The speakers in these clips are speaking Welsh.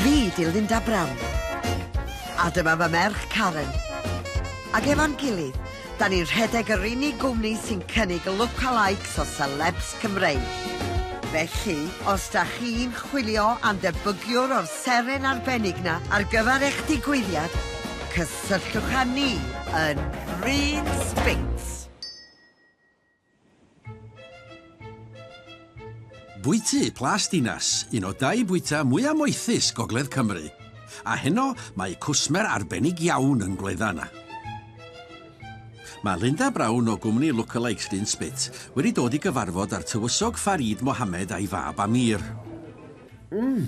Fi di Linda Brown. A dyma fy merch Karen. Ac efo'n gilydd, da ni'n rhedeg yr unig gwmni sy'n cynnig lookalikes o celebs Cymreig. Felly, os da chi'n chwilio am ddebygiwr o'r seren arbennig na ar gyfer eich digwyddiad, cysylltwch â ni yn Bryn Spinks. Bwyty Plas Dinas, un o dai bwyta mwyaf moethus Gogledd Cymru. A heno mae cwsmer arbennig iawn yn gwledda yna. Mae Linda Brown o gwmni Lookalikes Dyn Spit wedi dod i gyfarfod â'r tywysog Farid Mohammed a'i fab Amir. Mmm!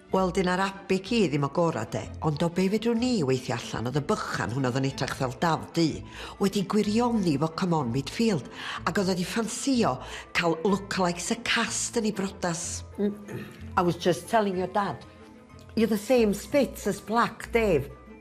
Wel dyna'r abic i ddim o gora de, ond o be fedrwn ni weithio allan oedd y bychan hwn oedd yn edrach fel daf du wedi gwirioni fo come on midfield ag oedd wedi ffansio cael lookalikes y cast yn ei brodas. I was just telling your dad you're the same spits as black Dave.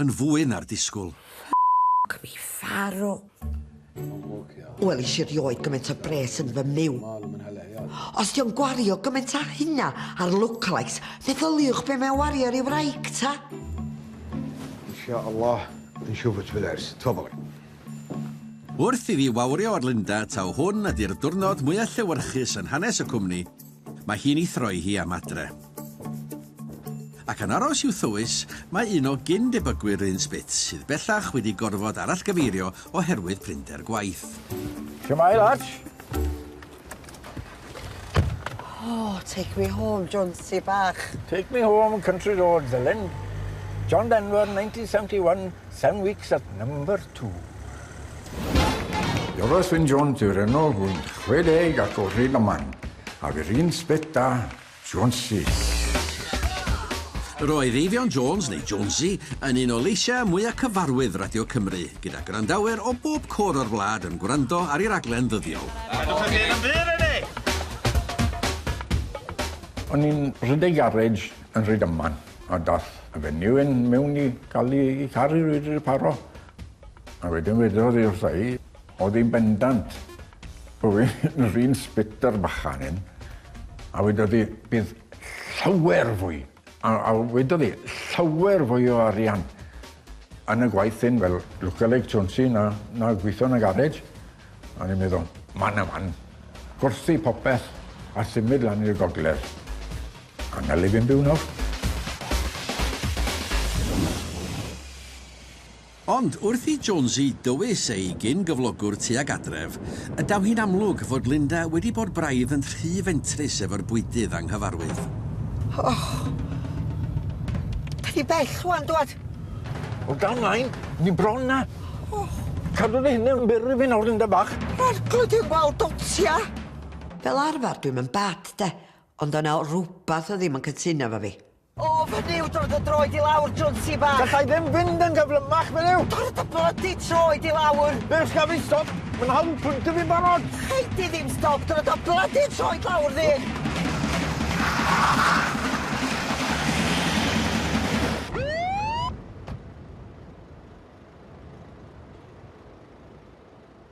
Yn fwy na'r disgwl. Ffyc mi farw. Wel isie rioed gymaint o bres yn fy myw. Os dio'n gwario gymaint a hynna ar lookalikes, meddyliwch be mae o'n wario ar ei wraig ta. Insha Allah yn siŵr fod ti'n ers, t'o' fo. Wrth i fi wawrio ar Linda taw hwn ydi'r dwrnod mwya llewyrchus yn hanes y cwmni, Mae hi'n ei throi hi am adre. Ac yn aros i'w thywys, mae un o gyn-debygwyr Rhun Spitz, sydd bellach wedi gorfod arallgyfeirio oherwydd prinder gwaith. Shwmae, lads? Oh, take me home, Jonsi bach. Take me home, country roads, Elen. John Denver, 1971. Ten weeks at number two. Joros Wyn Jones yw'r enw, rwy'n 60 ac o Rydaman, a fy'r un sbet da, Jonesy. Roedd Eifion Jones, neu Jonesy, yn un o leisiau mwyaf cyfarwydd Radio Cymru, gyda gwrandawyr o bob cwr o'r wlad yn gwrando ar ei raglen ddyddiol. Gadwch y gêm yn fyr, O'n i'n rhedeg garej yn Rhydaman a dath A fe ni yn mewn i ga'l 'i 'i car 'i reid reparo. A wedyn wedodd 'i wrtha i o'dd 'i'n bendant bo' fi yn yr un sbector bychan un a wedodd 'i bydd llawer fwy a a wedodd 'i llawer fwy o arian yn y gwaith hyn fel lookalike Jonesy na na gwitho yn y garej. A o'n i'n meddwl man a man. Gwerthu popeth a symud lan i'r gogledd. A na le fi'n byw nawr. Ond wrth i Jonesy dywys ei gyn-gyflogwr tuag adref, y daw hi'n amlwg fod Linda wedi bod braidd yn rhy fentrus efo'r bwydydd anghyfarwydd. O! Da ni bell rwan, dwad! O da mlaen, ni bron na! O! Cadw dy hunan byr i fi nawr, Linda bach! Rhaid clydu'r wal dotia! Fel arfer dwi'm yn bad, de, Ond o' 'na rwbath o ddim yn cytuno efo fi. O, fynny yw dod o droed i lawr, Jonesy bach! Gallai ddim fynd yn gyflymach, meddw! Torri dy blydi troed i lawr! Beth gaf fi stop? Mae'n hawdd pwyntio fi'n barod! Gei di ddim stop, torri dy blydi troed lawr, dde!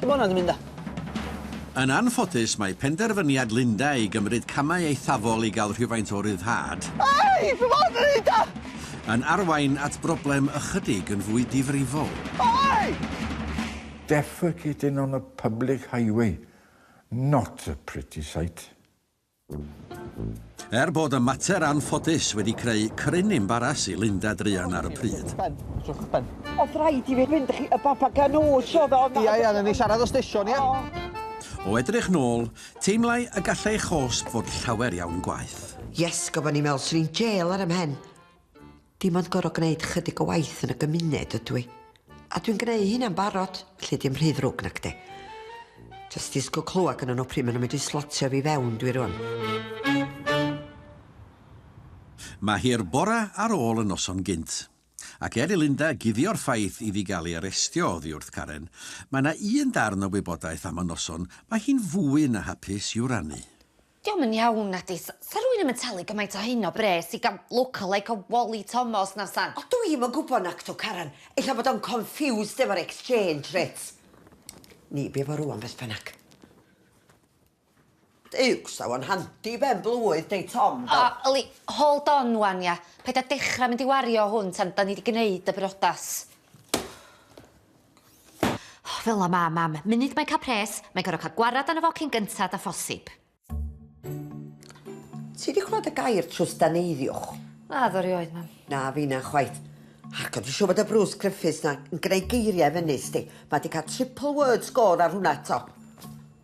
Lle mae hwnna 'di mynd de? Yn anffodus, mae penderfyniad Linda i gymryd camau eithafol i gael rhywfaint o ryddhad, Ei! Fy mod yn neud o! yn arwain at broblem ychydig yn fwy difrifol. Ei! Defecating on a public highway, not a pretty sight. Er bod y mater anffodus wedi creu cryn imbaras i Linda druan ar y pryd. Oedd rhaid i fi fynd chi y baba ganŵs oedd o. Ia ia, ni siarad o stesion ia? O edrych nôl, teimlai y gallai chosb fod llawer iawn gwaeth. Yes, gofo ni me'wl swn i'n jêl ar 'y mhen. Dim ond gor'o' gneud chydig o waith yn y gymuned ydw i. A dwi'n gneu' hynna'n barod, felly dim rhy ddrwg nacdi? Jyst disgwl clwad gynnon nhw pryd ma' nhw'n mynd i slotio fi fewn dwi rŵan. Mae hi'r bora ar ôl y noson gynt. Ac er i Linda guddio'r ffaith iddi gael ei arestio oddi wrth Karen, mae 'na un darn o wybodaeth am y noson mae hi'n fwy na hapus i'w rannu. Dio'm yn iawn, nadi? S- sa rwy'n i'm yn talu gymaint o hyn o bres i ga'l lookalike o Wally Tomos na f'san. O dwi i'm yn gwbo nacdw Karen, ella fod o'n confused efo'r exchange rates. Ni bu fo rŵan beth bynnag. Duwcs, sa fo'n handi ben blwydd deud Tom do? O, yli, hold on ŵan ia, paid a dechra mynd i wario hwn tan 'dan ni 'di gneud y brodas. Oh, fel la mam, mam. Munud mae'n cael pres, mae'n gorfod cael gwarad arno fo cyn gyntad a phosib. Ti di clywed y gair trwsdaneiddiwch? Na, ddo rioed, mam. Na, fi na chwaith. Ac o'n i siŵr bod y Bruce Griffiths na yn gwneud geiriau fyny, sti. Mae di cael triple word score ar hwnna eto.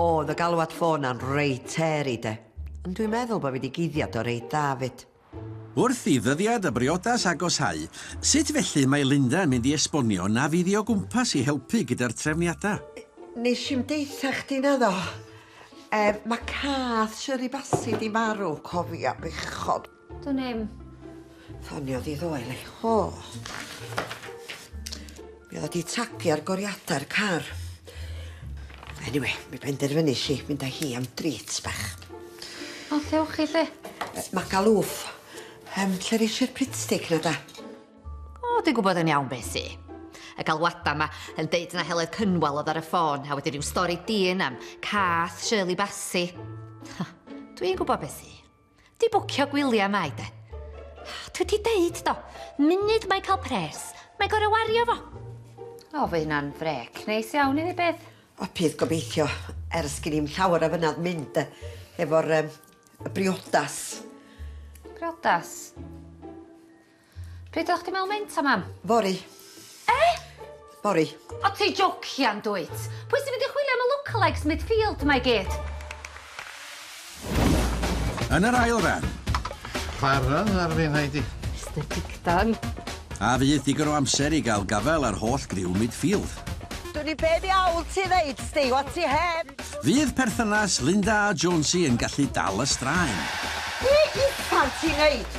Oedd y galwad ffôn na'n reit hairy de, ond dwi'n meddwl bod fi wedi guddiad o reit dda 'fyd. Wrth i ddyddiad y briodas agoshau, sut felly mae Linda yn mynd i esbonio na fydd i o gwmpas i helpu gyda'r trefniadau? Nes i'm deutha chdi naddo? Yy, ma' cath Shirley Bassey 'di marw, cofia bechod. Dwn i'm. Ffoniodd i ddoe, le. O! Mi oedd o di tagio ar goriadau'r car. Anyway, mi benderfynu si mynd â hi am drit bach. O, lle wch chi, lle? Mae galwf. Um, lle reis i'r pitstig na da? O, dwi'n gwybod yn iawn beth i. Y galwadau yma yn deud na Heledd Cynwal oedd ar y ffôn, a wedi rhyw stori dyn am cath Shirley Bassi. Dwi'n gwybod beth i. Di bwcio gwylia mai de. Dwi di deud do, munud mae cael pres, mae gorau wario fo. O, fy hynna'n frec, neis iawn i fi bydd. O, bydd gobeithio, ers gyn i'n llawer o fynad mynd efo'r um, briodas. Briodas? Pryd o'ch chdi mewn meinta mam? Fory. Eh? Fory. O ti jocian dwyt? Pwy sy'n mynd i chwilio am y lookalikes midfield mae gyd? Yn yr ail ran. Chwarae ar fi, Heidi. Mister Digdan. A fydd digon o amser i gael gafael ar holl griw midfield? Dwn i be ddiawl ti ddeud, Steve, o ti heb! Fydd perthynas Linda a Jonesy yn gallu dal y straen? Be uffan ti'n neud?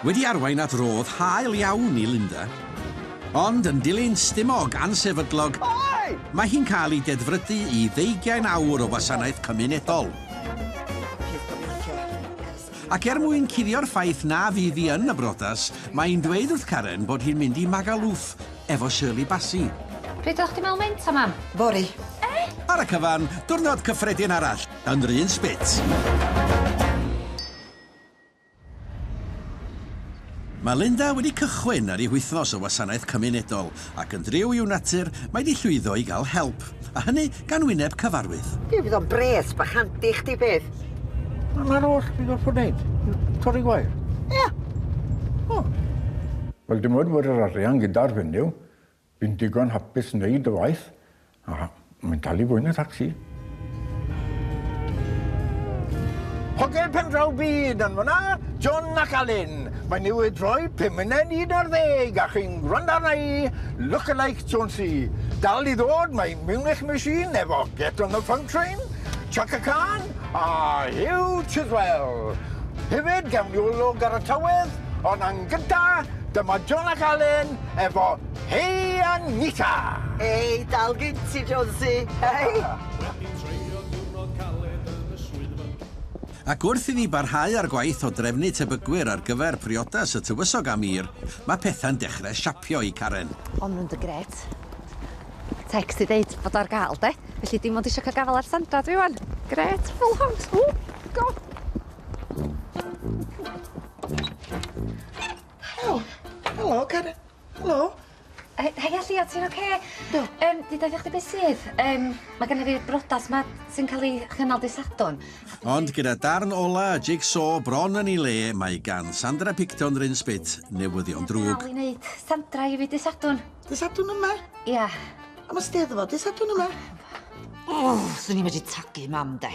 Wedi arwain at rodd hael iawn i Linda, ond yn dilyn stumog ansefydlog, mae hi'n cael ei dedfrydu i ddeugain awr o wasanaeth cymunedol. Ac er mwyn cuddio'r ffaith na fydd hi yn y briodas, mae hi'n dweud wrth Karen bod hi'n mynd i Magaluf efo Shirley Bassey. Pryd oeddach chdi'n meddwl meinta, Mam? Fory. Eh? Ar y cyfan, diwrnod cyffredin arall yn 'r un spit. Mae Linda wedi cychwyn ar ei wythnos o wasanaeth cymunedol, ac yn driw i'w natur, mae 'di llwyddo i gael help, a hynny gan wyneb cyfarwydd. Ie, fydd o'n bres bach handi i chdi bydd? Wel, 'na'r oll fi'n gorfod neud, torri gwair. Ie. O. Wel, dim ond bod yr arian gyda'r fenyw, Fi'n digon hapus neud y waith a mae'n dal i fwy na thacsi. Hogia pen draw byd yn fanna, John ac Alun. Mae newydd droi pum munud i un ar ddeg a chi'n gwrando arna i, Lookalike Jonesy. Dal i ddod, mae Munich Machine efo Get on the Funk Train, Chaka Khan a Hugh Chiswell. Hefyd, gawn ni olwg ar y tawedd, ond yn gynta, dyma John ac Alun, efo Hey Anita! Ei, dal gin ti, Jonesy, hei! Wedi treulio diwrnod caled yn y swyddfa. Ac wrth i ni barhau â'r gwaith o drefnu tebygwyr ar gyfer priodas y tywysog am Ýyr, mae pethau'n dechrau siapio i Karen. O'n nhw'n dy gret. Text i ddeud bod o ar gael, de? Felly dim ond isio cael gafael ar Sandra dwi ŵan. Gret, full house, ww, go! Helo. Helo Cari. Helo. He- hei Allia ti'n ocê? Do. Yym dwi daethach chdi be' sydd? Yym ma' gynna fi'r brodas 'ma sy'n ca'l 'i chynnal dy' Sadwrn. Ond gyda darn ola y jig-so bron yn 'i le mae gan Sandra Picton Rhun Spit newyddion drwg. Dal i neud Sandra i fi dy' Sadwrn. Dy' Sadwrn yma? Ia. Am y Steddfod dy' Sadwrn yma? O! Swn i medru tagu mam 'de.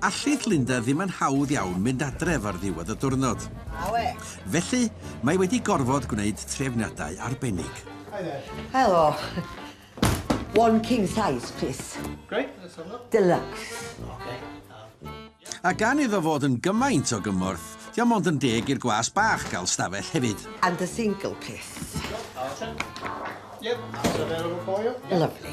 Allith Linda ddim yn hawdd iawn mynd adref ar ddiwedd y diwrnod. Felly, mae wedi gorfod gwneud trefniadau arbennig. Helo. One king size, plis. Great, that's all up. Deluxe. Okay. A gan iddo fod yn gymaint o gymorth, di o mond yn deg i'r gwas bach gael stafell hefyd. And a single, plis. Yep, that's available for you. Lovely.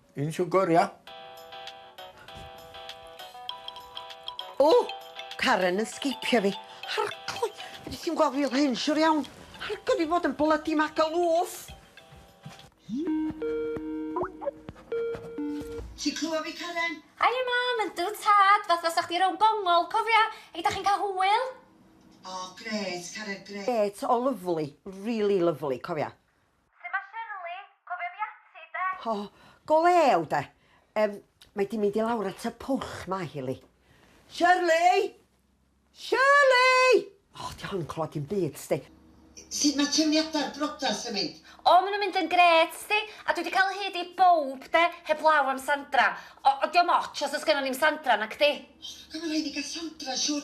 Un siwgr, ia? O! Karen yn sgipio fi. Harcloi! Fedri ti'm gweld fi fel hyn, siwr iawn. Harcloi fi fod yn blydi magalwf! Ti'n clywed fi, Karen? Haia, Mam! Yndw, Tad! Fatha sa chdi rownd gongol, cofia? Hei, dach chi'n cael hwyl? O, grêt, Karen, grêt. Grêt, o lyfli, rili lyfli, cofia. Su' ma Shirley? Cofio fi ati 'de? O, go lew 'de. Yym, mae 'di mynd i lawr at y pwll 'ma hi Li. Shirley! Shirley! O, 'di hon yn clywad dim byd, 'sdi. Sud ma trefniada'r brodas yn mynd? O, ma nhw'n mynd yn grêt, 'sdi. A dwi 'di cael o hyd i bowb 'de, heblaw am Sandra. O, ond 'di o'm otsh os o's gynnon ni'm Sandra, nacdi? O, gynna rhaid ni gael Sandra, siŵr.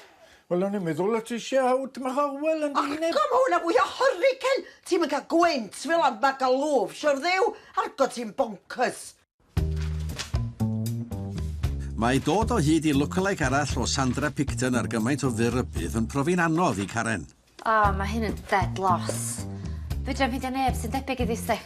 Wel o'n i'n meddwl o ti isia out mach o wel yn dy wyneb. Och go ma hwnna fwy o hurricane! Ti'm yn cael gwynt fel am Magaluf, siwr dduw! Argot ti'n boncyrs! Mae dod o hyd i lookalike arall o Sandra Picton ar gymaint o fyr rybudd yn profi'n anodd i Karen. O ma' hyn yn dead loss. Fedrai'm ffeindio neb sy'n debyg iddi sdi.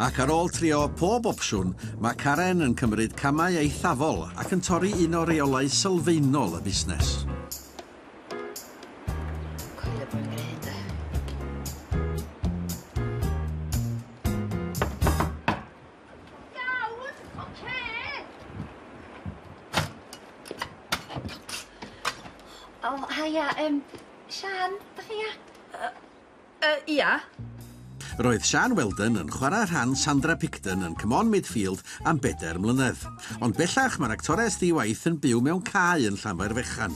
Ac ar ôl trio pob opsiwn, mae Karen yn cymryd camau eithafol ac yn torri un o reolau sylfaenol y busnes. Coelio bod yn gwneud de. Iawn, ocê! O, haia, yym, Siân, dach chi ia? Yy, yy, ia. Roedd Siân Weldon yn chwarae rhan Sandra Picton yn Come On Midfield am bedair mlynedd. Ond bellach mae'r actores ddi-waith yn byw mewn cae yn Llanfair Fechan.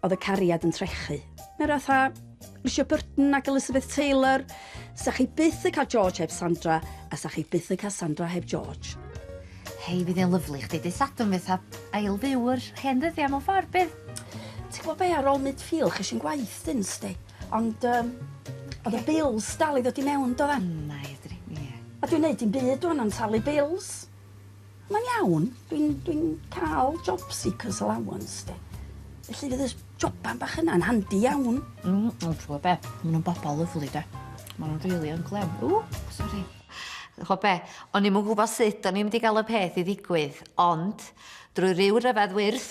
Oedd y cariad yn trechu. Meredith a Richard Burton ac Elizabeth Taylor. Sa chi byth yn cael George heb Sandra, a sa chi byth yn cael Sandra heb George. Hei, bydd e'n lyflu chdi dy sadwn fydd ha ail fyw yr hen ddyddiau mewn ffordd bydd. Ti'n gwybod be ar ôl mid ffil chys i'n gwaith dyn sti. Ond um, oedd y bills dal i ddod i mewn do fe? Na, edrych, ie. A dwi'n neud i'n byd o'n am talu bills. Mae'n iawn, dwi'n dwi cael job seekers allowance de. Felly fydd y joban bach yna'n handi iawn. Mm, ond ti'n gwybod be, maen nhw'n bobl lyflu de. Maen nhw'n rili yn glem. Ww, sori. Chwa be, o'n i'n gwybod sut o'n i'n mynd i gael y peth i ddigwydd, ond drwy ryw ryfedd wyrth,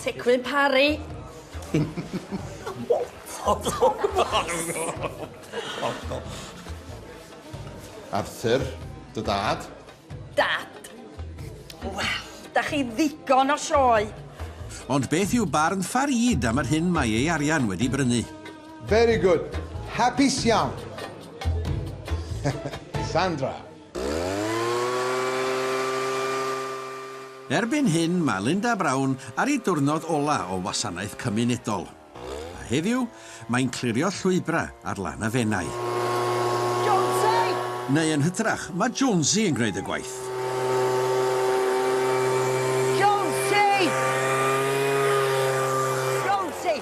Teclyn Parry. Arthur, dy dad. Dad. Wel, da chi ddigon o sioe. Ond beth yw barn Farid am yr hyn mae ei arian wedi brynu? Very good. Hapus iawn. Sandra. Erbyn hyn mae Linda Brown ar ei diwrnod ola' o wasanaeth cymunedol. A heddiw, mae'n clirio llwybra' ar lan y Fenai. Jonesy! Neu yn hytrach, mae Jonesy yn gwneud y gwaith. Jonesy! Jonesy!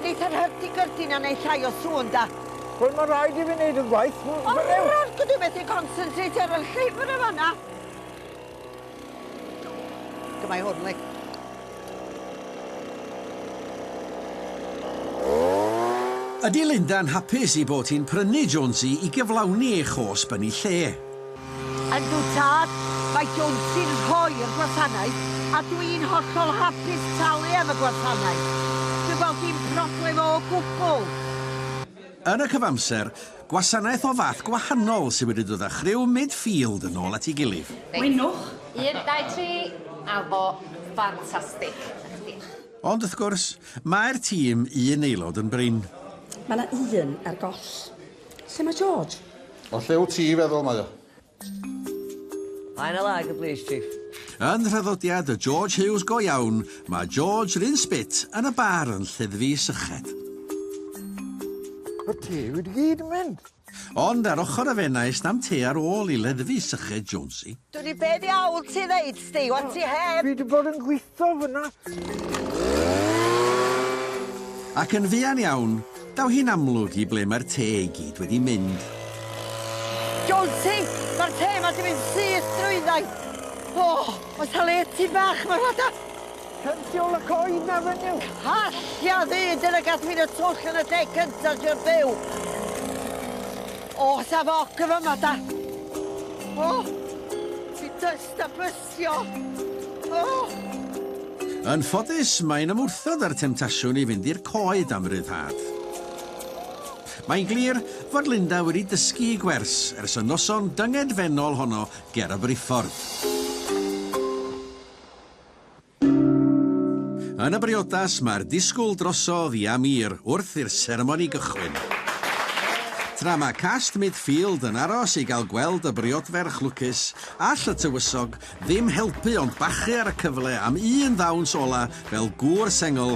Neith yr hurt i gyrthin a neith llai o sŵn 'da. Wel mae'n rhaid i fi wneud y gwaith. Ond rhaid i fi methu concentrate ar y llyfr yn fanna. Dyma i hwn, Lee. Ydy Linda yn hapus ei bod hi'n prynu Jonesy i gyflawni ei chosb yn ei lle? Yndw tad, mae Jones sy'n rhoi'r gwasanaeth a dw i'n hollol hapus talu am y gwasanaeth. Dwi'n gweld dim problem o gwbl. Yn y cyfamser, gwasanaeth o fath gwahanol sydd wedi dod â chriw midfield yn ôl at ei gilydd. Mwynwch! Un, dau, tri, a fo! Ffantastig! Diolch. Ond wrth gwrs, mae'r tîm un aelod yn brin. Mae 'na un ar goll. Lle mae George? O lle wt ti feddwl mae o? Mae yna lag y blîs chief. Yn nhraddodiad y George Hughes go iawn, mae George yr un sbit yn y bar yn lleddfu syched. Mae te wedi gyd yn mynd. Ond ar ochr y fenai sna'm te ar ôl i leddfu syched Jonesy. Dwli be' ddiawl ti ddeud? Stay what ti heb! Fi di bod yn gwitho fyna. Ac yn fuan iawn, daw hi'n amlwg i ble mae'r te i gyd wedi mynd. Jonty! Mae'r te ma di mynd syth drwyddai! O! Oes ta le tŷ bach ma rwla da? Pensiwl y coed na fenyw? Calltia ddu! Dyna gath fi'n y twll yn y lle cynta trio byw! Oes ta foc yn fama da? O! Ti does? Da bystio! Oh! Yn ffodus, mae'n ymwrthod â'r temtasiwn i fynd i'r coed am ryddhad. Mae'n glir fod Linda wedi dysgu i gwers ers y noson dyngedfennol honno ger y briffordd. Yn y briodas, mae'r disgwyl drosodd i Amir wrth i'r seremoni gychwyn. Tra mae cast Midfield yn aros i gael gweld y briodferch lwcus, all y tywysog ddim helpu ond bachu ar y cyfle am un ddawns ola fel gŵr sengl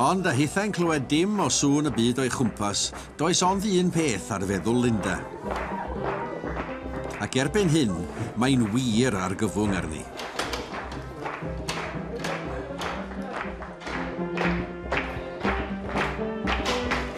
Ond a hithau'n clywed dim o sŵn y byd o'i chwmpas, does ond un peth ar feddwl Linda. Ac erbyn hyn, mae'n wir argyfwng arni.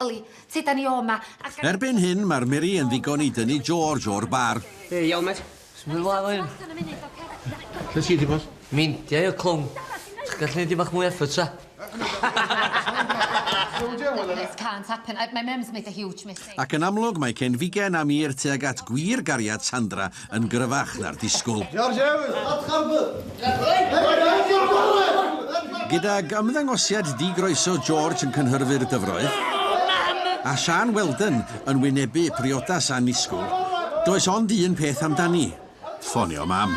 Oli, tyd â ni o 'ma. Erbyn hyn, mae'r miri yn ddigon i dynnu George o'r bar. Hei, iawn, mêt? Symud ymlaen efo hyn. Lle ti 'di bod? Meindia io, clown. Sech chi'n gallu neud dipyn bach mwy o effort, 'sa? This can't happen. My mum's made a huge mistake. Ac yn amlwg, mae cyn Figen a Mîr tuag at gwir gariad Sandra yn gryfach na'r disgwyl. Gydag ymddangosiad di-groeso George yn cynhyrfu'r dyfroedd, a Siân Wheldon yn wynebu priodas annisgwyl, does ond un peth amdani, ffonio Mam.